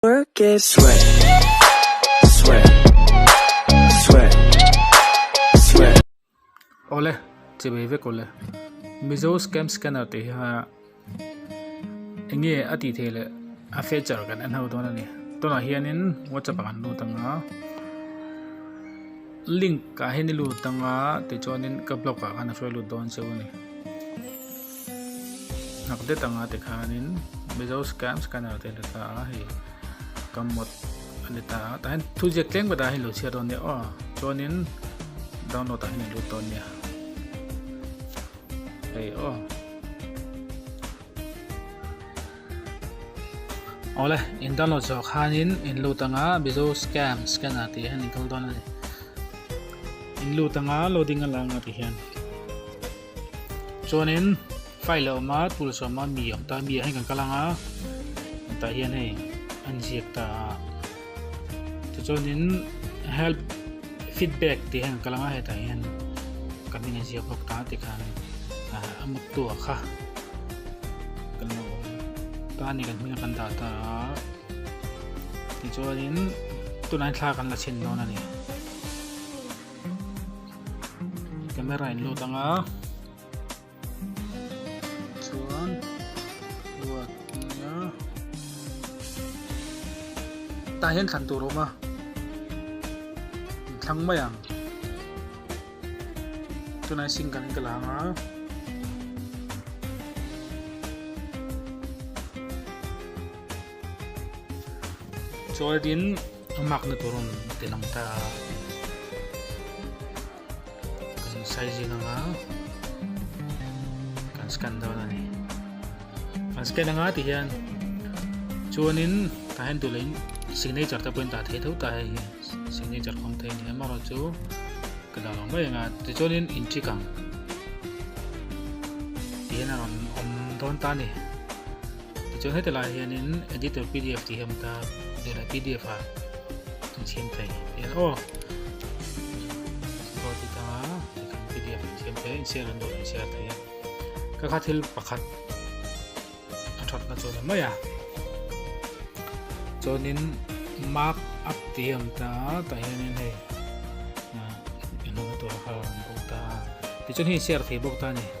Work it. Sweat, sweat, sweat, sweat. Awle, chibei vek u le. Mizo scam scanner tih hi hmanga enge a tih theih leh a feature kan en ho dawn a ni. Tunah hianin WhatsApp a kan lut anga link ah hian i lut anga tichuanin ka blog ah khan a hruai lut dawn cheu a ni. Hnak det anga ti khanin Mizo Scam Scanner te a let a, hei ka mod a let a, tah hian thu ziak tleng ve dan hi lo chhiar dawn nia aw, chuanin download ah hian a lut dawn nia, hei aw. Awle in download zawh khanin in lut anga Mizo Scam Scanner tih hian in kal dawn a ni, in lut anga loading a la anga ti hian. Chuanin file leh awm a tul sawm a mi awm ta mi ah hian kan kal ang a an tah hian hei an ziak ta a chu chuanin help feedback tih hian kan kal ang a hetah hian kan min ziak bawk ta ti khan a mut tu a kha kan lo ta ni kan hming kan dah ta a ti chuanin tunah thlak kan la chhin dawn a ni camera in lut anga chuan ruat nia tah hian thlan tur a awm a in thlang mai ang tunah hian single ka la anga Chawldin a makna tur rawn ti lang ta a, kan size zing anga kan scan dawn a ni. Kan scan anga ti hian chuanin ta hian tulain signature te pawhin ta thei tho ta hei signature khawng thei ni emarawh chu ka dah lo mai anga ti chuanin in check ang ti hian a rawn awm dawn ta a ni. Tichuan heta laiah hianin Editor pdf tih hi a awm ta, tunah pdf a rawn siam thei hian aw Saw tih tanga tichuan pdf a rawn siam thei a, in share ang dawh in share thei a, ka kha thil pakhat a that na chuan a maiah chuanin mark up tih hi a awm ta, tah hianin hei inhawlna tura kha a rawn bawk ta a, tichuan hei in share thei bawk ta a ni.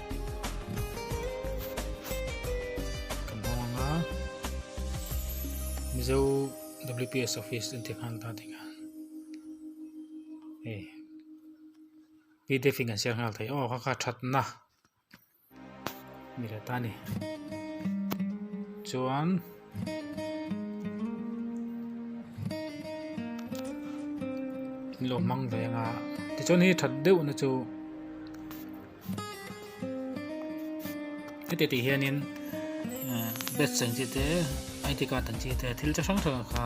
kan hawng anga mizo WPS office in te khan ta ding a eh PDF in kan share hal thei oh kha kha that na ni ta ni chuan lo hmang ve anga tichuan hei that deuh na chu heti tih hianin eh, bet seng chi te ID card ang chi te thil chi hrang hrang kha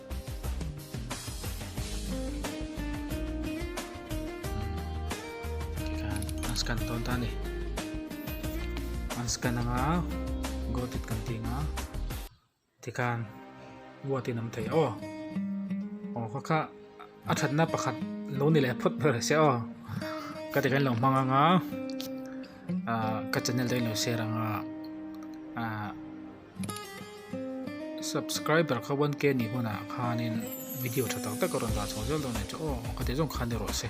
an scan tawn ta ni an scan anga got it kan tih nga tikhan buat in am thei aw aw kha kha a thatna pakhat lo ni leh phawt ber se aw ka ti kan lo hmang anga ka channel te kan lo share anga ah Subscriber kha one k nih hunah khanin video tha tak tak a rawn dan chho zel dawn nen chu aw ka tih zawng khan ni rawh se.